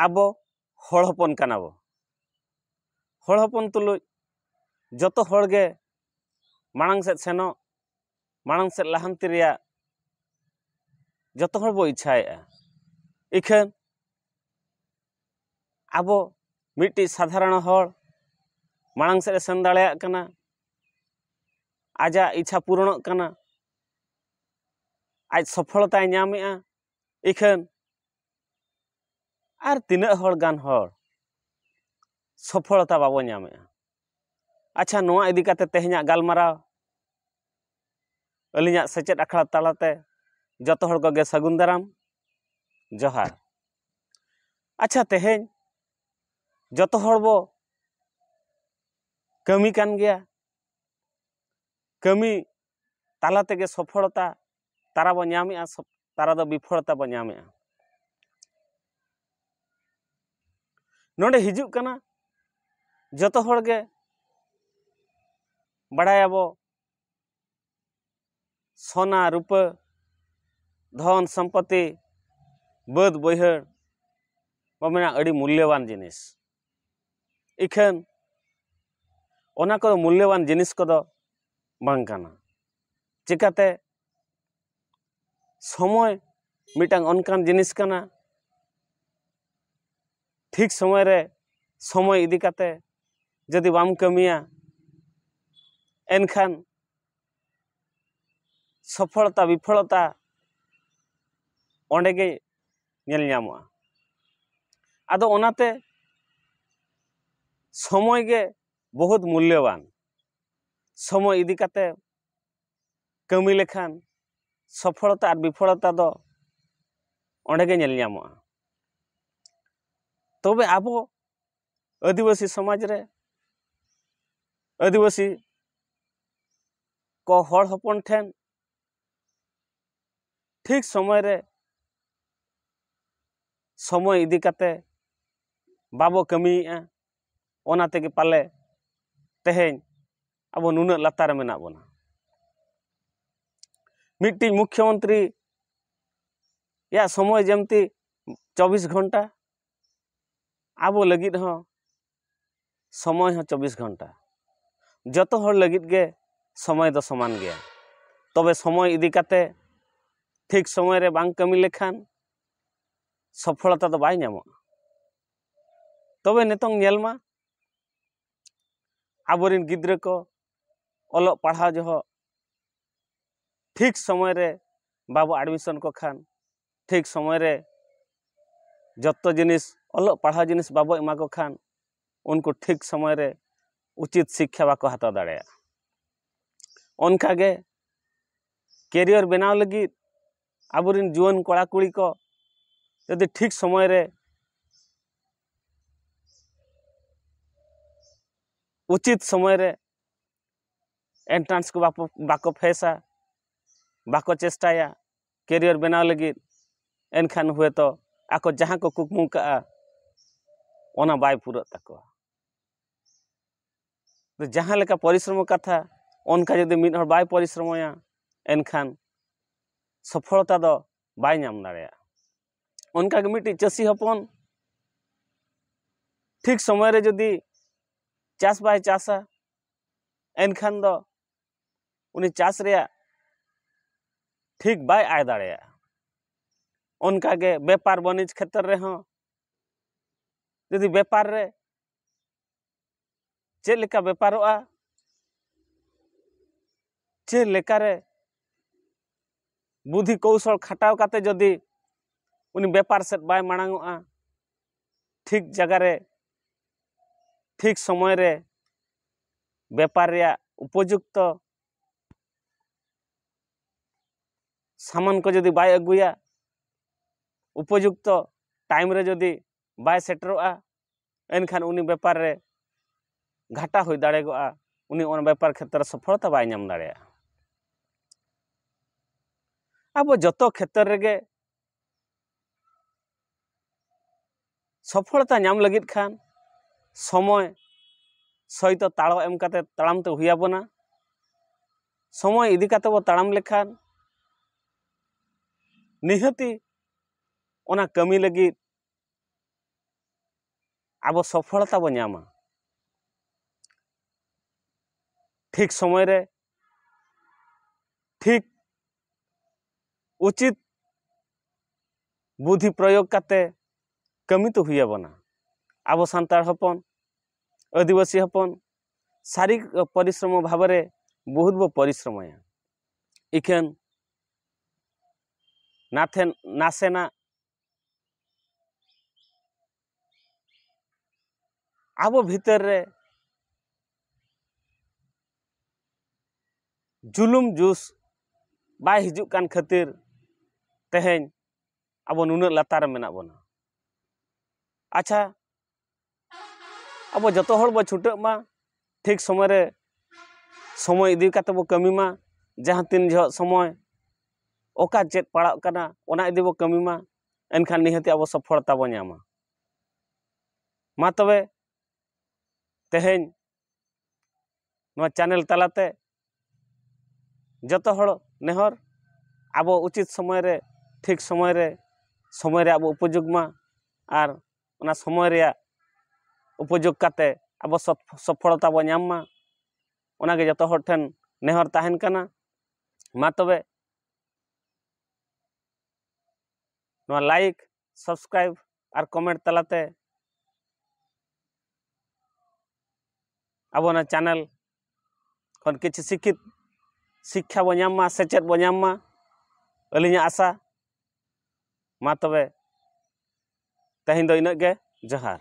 ᱟᱵᱚ ᱦᱚᱲ ᱦᱚᱯᱚᱱ ᱠᱟᱱᱟ ᱵᱚ ᱦᱚᱲ ᱦᱚᱯᱚᱱ ᱛᱩᱞᱩᱡ ᱡᱚᱛᱚ ᱦᱚᱲ ᱜᱮ ᱢᱟᱲᱟᱝ ᱥᱮᱫ ᱥᱮᱱᱚᱜ ᱢᱟᱲᱟᱝ ᱥᱮᱫ ᱞᱟᱦᱟᱱᱛᱤ ᱨᱮᱭᱟᱜ ᱡᱚᱛᱚ ᱦᱚᱲ ᱵᱚ ᱤᱪᱪᱷᱟᱭᱮᱫᱼᱟ ᱤᱠᱷᱟᱹᱱ ᱟᱵᱚ ᱢᱤᱫᱴᱤᱡ ᱥᱟᱫᱷᱟᱨᱚᱱ ᱦᱚᱲ ᱢᱟᱲᱟᱝ ᱥᱮᱫ ᱮ ᱥᱮᱱ ᱫᱟᱲᱮᱭᱟᱜ ᱠᱟᱱᱟ ᱟᱡᱟᱜ ᱤᱪᱪᱷᱟ ᱯᱩᱨᱚᱱᱚᱜ ᱠᱟᱱᱟ ᱟᱡ ᱥᱚᱯᱷᱚᱞᱚᱛᱟᱭ ᱧᱟᱢᱮᱜᱼᱟ ᱤᱠᱷᱟᱹᱱ ᱟᱨ ᱛᱤᱱᱟᱹᱜ ᱦᱚᱲ ᱜᱟᱱ ᱦᱚᱲ ᱥᱚᱯᱷᱚᱞᱚᱛᱟ ᱵᱟᱵᱚ ᱧᱟᱢᱮᱜᱼᱟ ᱟᱪᱪᱷᱟ ᱱᱚᱣᱟ ᱤᱫᱤ ᱠᱟᱛᱮ ᱛᱮᱦᱮᱧᱟᱜ ᱜᱟᱞᱢᱟᱨᱟᱣ ᱟᱹᱞᱤᱧᱟᱜ ᱥᱮᱪᱮᱫ ᱟᱠᱷᱲᱟ ᱛᱟᱞᱟᱛᱮ ᱡᱚᱛᱚ ᱦᱚᱲ ᱠᱚᱜᱮ ᱥᱟᱹᱜᱩᱱ ᱫᱟᱨᱟᱢ ᱡᱚᱦᱟᱨ ᱟᱪᱪᱷᱟ ᱛᱮᱦᱮᱧ ᱡᱚᱛᱚ ᱦᱚᱲ ᱵᱚ ᱠᱟᱹᱢᱤ ᱠᱟᱱ ᱜᱮᱭᱟ ᱠᱟᱹᱢᱤ ᱛᱟᱞᱟ ᱛᱮᱜᱮ ᱥᱚᱯᱷᱚᱲᱚᱛᱟ ᱛᱟᱨᱟ ᱵᱚ ᱧᱟᱢᱮᱜᱼᱟ ᱛᱟᱨᱟ ᱫᱚ ᱵᱤᱯᱷᱚᱲᱚᱛᱟ ᱵᱚ ᱧᱟᱢᱮᱜᱼᱟ ᱱᱚᱰᱮ ᱦᱤᱡᱩᱜ ᱠᱟᱱᱟ ᱡᱚᱛᱚ ᱦᱚᱲ ᱜᱮ ᱵᱟᱲᱟᱭᱟᱵᱚ ᱥᱚᱱᱟ ᱨᱩᱯᱟᱹ ᱫᱷᱚᱱ ᱥᱚᱢᱯᱚᱛᱤ ᱵᱟᱹᱫᱽ ᱵᱟᱹᱭᱦᱟᱹᱲ ᱵᱚ ᱢᱮᱱᱟ ᱟᱹᱰᱤ ᱢᱩᱞᱞᱚᱵᱟᱱ ᱡᱤᱱᱤᱥ ᱤᱠᱷᱟᱹᱱ ᱚᱱᱟ ᱠᱚ ᱢᱩᱞᱞᱚᱵᱟᱱ ᱡᱤᱱᱤᱥ ᱠᱚᱫᱚ ᱵᱟᱝ ᱠᱟᱱᱟ ᱪᱤᱠᱟᱹᱛᱮ ᱥᱚᱢᱚᱭ ᱢᱤᱫᱴᱟᱝ ᱚᱱᱠᱟᱱ ᱡᱤᱱᱤᱥ ᱠᱟᱱᱟ ᱴᱷᱤᱠ ᱥᱚᱢᱚᱭ ᱨᱮ ᱥᱚᱢᱚᱭ ᱤᱫᱤ ᱠᱟᱛᱮ ᱡᱩᱫᱤ ᱵᱟᱢ ᱠᱟᱹᱢᱤᱭᱟ ᱮᱱᱠᱷᱟᱱ ᱥᱚᱯᱷᱚᱞᱚᱛᱟ ᱵᱤᱯᱷᱚᱞᱚᱛᱟ ᱚᱸᱰᱮ ᱜᱮ ᱧᱮᱞ ᱧᱟᱢᱚᱜᱼᱟ ᱟᱫᱚ ᱚᱱᱟᱛᱮ ᱥᱚᱢᱚᱭ ᱜᱮ ᱵᱚᱦᱩᱛ ᱢᱩᱞᱞᱚᱵᱟᱱ ᱥᱚᱢᱚᱭ ᱤᱫᱤ ᱠᱟᱛᱮ ᱠᱟᱹᱢᱤ ᱞᱮᱠᱷᱟᱱ ᱥᱚᱯᱷᱚᱞᱚᱛᱟ ᱟᱨ ᱵᱤᱯᱷᱚᱞᱚᱛᱟ ᱫᱚ ᱚᱸᱰᱮ ᱜᱮ ᱧᱮᱞ ᱧᱟᱢᱚᱜᱼᱟ ᱛᱚᱵᱮ ᱟᱵᱚ ᱟᱹᱫᱤᱵᱟᱹᱥᱤ ᱥᱚᱢᱟᱡᱽ ᱨᱮ ᱟᱹᱫᱤᱵᱟᱹᱥᱤ ᱠᱚ ᱦᱚᱲ ᱦᱚᱯᱚᱱ ᱴᱷᱮᱱ ᱴᱷᱤᱠ ᱥᱚᱢᱚᱭ ᱨᱮ ᱥᱚᱢᱚᱭ ᱤᱫᱤ ᱠᱟᱛᱮ ᱵᱟᱵᱚ ᱠᱟᱹᱢᱤᱭᱮᱫᱼᱟ ᱚᱱᱟ ᱛᱮᱜᱮ ᱯᱟᱞᱮ ᱛᱮᱦᱮᱧ ᱟᱵᱚ ᱱᱩᱱᱟᱹᱜ ᱞᱟᱛᱟᱨ ᱨᱮ ᱢᱮᱱᱟᱜ ᱵᱚᱱᱟ ᱢᱤᱫᱴᱤᱡ ᱢᱩᱠᱷᱭᱚ ᱢᱚᱱᱛᱨᱤ ᱭᱟᱜ ᱥᱚᱢᱚᱭ ᱡᱮᱢᱛᱤ ᱪᱚᱵᱵᱤᱥ ᱜᱷᱚᱱᱴᱟ ᱟᱵᱚ ᱞᱟᱹᱜᱤᱫ ᱦᱚᱸ ᱥᱚᱢᱚᱭ ᱦᱚᱸ ᱪᱚᱵᱵᱤᱥ ᱜᱷᱚᱱᱴᱟ ᱡᱚᱛᱚ ᱦᱚᱲ ᱞᱟᱹᱜᱤᱫ ᱜᱮ ᱥᱚᱢᱚᱭ ᱫᱚ ᱥᱚᱢᱟᱱ ᱜᱮᱭᱟ ᱛᱚᱵᱮ ᱥᱚᱢᱚᱭ ᱤᱫᱤ ᱠᱟᱛᱮ ᱴᱷᱤᱠ ᱥᱚᱢᱚᱭ ᱨᱮ ᱵᱟᱝ ᱠᱟᱹᱢᱤ ᱞᱮᱠᱷᱟᱱ ᱥᱚᱯᱷᱚᱞᱚᱛᱟ ᱫᱚ ᱵᱟᱭ ᱧᱟᱢᱚᱜᱼᱟ ᱛᱚᱵᱮ ᱱᱤᱛᱚᱝ ᱧᱮᱞ ᱢᱟ ᱟᱵᱚᱨᱮᱱ ᱜᱤᱫᱽᱨᱟᱹ ᱠᱚ ᱚᱞᱚᱜ ᱯᱟᱲᱦᱟᱣ ᱡᱚᱦᱚᱜ ᱴᱷᱤᱠ ᱥᱚᱢᱚᱭ ᱨᱮ ᱵᱟᱵᱚ ᱟᱰᱢᱤᱥᱚᱱ ᱠᱚ ᱠᱷᱟᱱ ᱴᱷᱤᱠ ᱥᱚᱢᱚᱭ ᱨᱮ ᱡᱚᱛᱚ ᱡᱤᱱᱤᱥ ᱚᱞᱚᱜ ᱯᱟᱲᱦᱟᱣ ᱡᱤᱱᱤᱥ ᱵᱟᱵᱚ ᱮᱢᱟ ᱠᱚ ᱠᱷᱟᱱ ᱩᱱᱠᱩ ᱴᱷᱤᱠ ᱥᱚᱢᱚᱭ ᱨᱮ ᱩᱪᱤᱛ ᱥᱤᱠᱠᱷᱟ ᱵᱟᱠᱚ ᱦᱟᱛᱟᱣ ᱫᱟᱲᱮᱭᱟᱜᱼᱟ ᱚᱱᱠᱟ ᱜᱮ ᱠᱮᱨᱤᱭᱚᱨ ᱵᱮᱱᱟᱣ ᱞᱟᱹᱜᱤᱫ ᱟᱵᱚ ᱨᱮᱱ ᱡᱩᱣᱟᱹᱱ ᱠᱚᱲᱟ ᱠᱩᱲᱤ ᱠᱚ ᱡᱩᱫᱤ ᱴᱷᱤᱠ ᱥᱚᱢᱚᱭ ᱨᱮ ᱩᱪᱤᱛ ᱥᱚᱢᱚᱭ ᱨᱮ ᱮᱱᱴᱨᱟᱱᱥ ᱠᱚ ᱵᱟᱠᱚ ᱯᱷᱮᱥᱟ ᱵᱟᱠᱚ ᱪᱮᱥᱴᱟᱭᱟ ᱠᱮᱨᱤᱭᱟᱨ ᱵᱮᱱᱟᱣ ᱞᱟᱹᱜᱤᱫ ᱮᱱᱠᱷᱟᱱ ᱦᱳᱭᱛᱳ ᱟᱠᱚ ᱡᱟᱦᱟᱸ ᱠᱚ ᱠᱩᱠᱢᱩ ᱠᱟᱜᱼᱟ ᱚᱱᱟ ᱵᱟᱭ ᱯᱩᱨᱟᱹᱜ ᱛᱟᱠᱚᱣᱟ ᱡᱟᱦᱟᱸ ᱞᱮᱠᱟ ᱯᱚᱨᱤᱥᱨᱚᱢ ᱠᱟᱛᱷᱟ ᱚᱱᱠᱟ ᱡᱩᱫᱤ ᱢᱤᱫ ᱦᱚᱲ ᱵᱟᱭ ᱯᱚᱨᱤᱥᱨᱚᱢᱚᱭᱟ ᱮᱱᱠᱷᱟᱱ ᱥᱚᱯᱷᱚᱞᱚᱛᱟ ᱫᱚ ᱵᱟᱭ ᱧᱟᱢ ᱫᱟᱲᱮᱭᱟᱜᱼᱟ ᱚᱱᱠᱟᱜᱮ ᱢᱤᱫᱴᱤᱡ ᱪᱟᱹᱥᱤ ᱦᱚᱯᱚᱱ ᱴᱷᱤᱠ ᱥᱚᱢᱚᱭ ᱨᱮ ᱡᱩᱫᱤ ᱪᱟᱥ ᱵᱟᱭ ᱪᱟᱥᱟ ᱮᱱᱠᱷᱟᱱ ᱫᱚ ᱩᱱᱤ ᱪᱟᱥ ᱨᱮᱭᱟᱜ ᱴᱷᱤᱠ ᱵᱟᱭ ᱟᱭ ᱫᱟᱲᱮᱭᱟᱜᱼᱟ ᱚᱱᱠᱟ ᱜᱮ ᱵᱮᱯᱟᱨ ᱵᱟᱹᱱᱤᱡᱽ ᱠᱷᱮᱛᱨᱮ ᱨᱮᱦᱚᱸ ᱡᱩᱫᱤ ᱵᱮᱯᱟᱨ ᱨᱮ ᱪᱮᱫ ᱞᱮᱠᱟ ᱵᱮᱯᱟᱨᱚᱜᱼᱟ ᱪᱮᱫ ᱞᱮᱠᱟᱨᱮ ᱵᱩᱫᱷᱤ ᱠᱳᱣᱥᱚᱞ ᱠᱷᱟᱴᱟᱣ ᱠᱟᱛᱮ ᱡᱩᱫᱤ ᱩᱱᱤ ᱵᱮᱯᱟᱨ ᱥᱮᱫ ᱵᱟᱭ ᱢᱟᱲᱟᱝᱚᱜᱼᱟ ᱴᱷᱤᱠ ᱡᱟᱭᱜᱟ ᱨᱮ ᱴᱷᱤᱠ ᱥᱚᱢᱚᱭ ᱨᱮ ᱵᱮᱯᱟᱨ ᱨᱮᱭᱟᱜ ᱩᱯᱚᱡᱩᱠᱛᱚ ᱥᱟᱢᱟᱱ ᱠᱚ ᱡᱩᱫᱤ ᱵᱟᱭ ᱟᱹᱜᱩᱭᱟ ᱩᱯᱚᱡᱩᱠᱛᱚ ᱴᱟᱭᱤᱢ ᱨᱮ ᱡᱩᱫᱤ ᱵᱟᱭ ᱥᱮᱴᱮᱨᱚᱜᱼᱟ ᱮᱱᱠᱷᱟᱱ ᱩᱱᱤ ᱵᱮᱯᱟᱨ ᱨᱮ ᱜᱷᱟᱴᱟ ᱦᱩᱭ ᱫᱟᱲᱮᱜᱚᱜᱼᱟ ᱩᱱᱤ ᱚᱱᱟ ᱵᱮᱯᱟᱨ ᱠᱷᱮᱛᱨᱮ ᱥᱚᱯᱷᱚᱞᱚᱛᱟ ᱵᱟᱭ ᱧᱟᱢ ᱫᱟᱲᱮᱭᱟᱜᱼᱟ ᱟᱵᱚ ᱡᱚᱛᱚ ᱠᱷᱮᱛᱨᱮ ᱨᱮᱜᱮ ᱥᱚᱯᱷᱚᱞᱚᱛᱟ ᱧᱟᱢ ᱞᱟᱹᱜᱤᱫ ᱠᱷᱟᱱ ᱥᱚᱢᱚᱭ ᱥᱚᱭᱛᱚ ᱛᱟᱲᱚ ᱮᱢ ᱠᱟᱛᱮ ᱛᱟᱲᱟᱢ ᱛᱮ ᱦᱩᱭ ᱟᱵᱚᱱᱟ ᱥᱚᱢᱚᱭ ᱤᱫᱤ ᱠᱟᱛᱮ ᱵᱚ ᱛᱟᱲᱟᱢ ᱞᱮᱠᱷᱟᱱ ᱱᱤᱦᱟᱹᱛᱤ ᱚᱱᱟ ᱠᱟᱹᱢᱤ ᱞᱟᱹᱜᱤᱫ ᱟᱵᱚ ᱥᱚᱯᱷᱚᱞᱚᱛᱟ ᱵᱚ ᱧᱟᱢᱟ ᱴᱷᱤᱠ ᱥᱚᱢᱚᱭ ᱨᱮ ᱴᱷᱤᱠ ᱩᱪᱤᱛ ᱵᱩᱫᱷᱤ ᱯᱨᱚᱭᱳᱜᱽ ᱠᱟᱛᱮ ᱠᱟᱹᱢᱤ ᱛᱚ ᱦᱩᱭ ᱟᱵᱚᱱᱟ ᱟᱵᱚ ᱥᱟᱱᱛᱟᱲ ᱦᱚᱯᱚᱱ ᱟᱹᱫᱤᱵᱟᱹᱥᱤ ᱦᱚᱯᱚᱱ ᱥᱟᱹᱨᱤ ᱯᱚᱨᱤᱥᱨᱚᱢᱚ ᱵᱷᱟᱵᱮ ᱨᱮ ᱵᱚᱦᱩᱛ ᱵᱚ ᱯᱚᱨᱤᱥᱨᱚᱢᱚᱭᱟ ᱤᱠᱷᱟᱹᱱ ᱱᱟᱛᱷᱮᱱ ᱱᱟᱥᱮᱱᱟᱜ ᱟᱵᱚ ᱵᱷᱤᱛᱟᱹᱨ ᱨᱮ ᱡᱩᱞᱩᱢ ᱡᱩᱥ ᱵᱟᱭ ᱦᱤᱡᱩᱜ ᱠᱟᱱ ᱠᱷᱟᱹᱛᱤᱨ ᱛᱮᱦᱮᱧ ᱟᱵᱚ ᱱᱩᱱᱟᱹᱜ ᱞᱟᱛᱟᱨ ᱨᱮ ᱢᱮᱱᱟᱜ ᱵᱚᱱᱟ ᱟᱪᱪᱷᱟ ᱟᱵᱚ ᱡᱚᱛᱚ ᱦᱚᱲ ᱵᱚ ᱪᱷᱩᱴᱟᱹᱜ ᱢᱟ ᱴᱷᱤᱠ ᱥᱚᱢᱚᱭ ᱨᱮ ᱥᱚᱢᱚᱭ ᱤᱫᱤ ᱠᱟᱛᱮ ᱵᱚ ᱠᱟᱹᱢᱤ ᱢᱟ ᱡᱟᱦᱟᱸ ᱛᱤᱱ ᱡᱚᱦᱚᱜ ᱥᱚᱢᱚᱭ ᱚᱠᱟ ᱪᱮᱫ ᱯᱟᱲᱟᱜ ᱠᱟᱱᱟ ᱚᱱᱟ ᱤᱫᱤ ᱵᱚ ᱠᱟᱹᱢᱤ ᱢᱟ ᱮᱱᱠᱷᱟᱱ ᱱᱤᱦᱟᱹᱛ ᱜᱮ ᱟᱵᱚ ᱥᱚᱯᱷᱚᱞᱚᱛᱟ ᱵᱚᱱ ᱧᱟᱢᱟ ᱢᱟ ᱛᱚᱵᱮ ᱛᱮᱦᱮᱧ ᱱᱚᱣᱟ ᱪᱮᱱᱮᱞ ᱛᱟᱞᱟᱛᱮ ᱡᱚᱛᱚ ᱦᱚᱲ ᱱᱮᱦᱚᱨ ᱟᱵᱚ ᱩᱪᱤᱛ ᱥᱚᱢᱚᱭ ᱨᱮ ᱴᱷᱤᱠ ᱥᱚᱢᱚᱭ ᱨᱮ ᱥᱚᱢᱚᱭ ᱨᱮ ᱟᱵᱚ ᱩᱯᱚᱡᱳᱜᱽ ᱢᱟ ᱟᱨ ᱚᱱᱟ ᱥᱚᱢᱚᱭ ᱨᱮᱭᱟᱜ ᱩᱯᱚᱡᱳᱜᱽ ᱠᱟᱛᱮ ᱟᱵᱚ ᱥᱚᱯᱷᱚᱞᱚᱛᱟ ᱵᱚᱱ ᱧᱟᱢ ᱢᱟ ᱚᱱᱟᱜᱮ ᱡᱚᱛᱚ ᱦᱚᱲ ᱴᱷᱮᱱ ᱱᱮᱦᱚᱨ ᱛᱟᱦᱮᱱ ᱠᱟᱱᱟ ᱢᱟ ᱛᱚᱵᱮ ᱱᱚᱣᱟ ᱞᱟᱭᱤᱠ ᱥᱟᱵᱥᱠᱨᱟᱭᱤᱵ ᱟᱨ ᱠᱚᱢᱮᱱᱴ ᱛᱟᱞᱟᱛᱮ ᱟᱵᱚ ᱚᱱᱟ ᱪᱮᱱᱮᱞ ᱠᱷᱚᱱ ᱠᱤᱪᱷᱩ ᱥᱤᱠᱠᱷᱤᱛ ᱥᱤᱠᱠᱷᱟ ᱵᱚ ᱧᱟᱢ ᱢᱟ ᱥᱮᱪᱮᱫ ᱵᱚ ᱧᱟᱢ ᱢᱟ ᱟᱹᱞᱤᱧᱟᱜ ᱟᱥᱟ ᱢᱟ ᱛᱚᱵᱮ ᱛᱮᱦᱮᱧ ᱫᱚ ᱤᱱᱟᱹᱜ ᱜᱮ ᱡᱚᱦᱟᱨ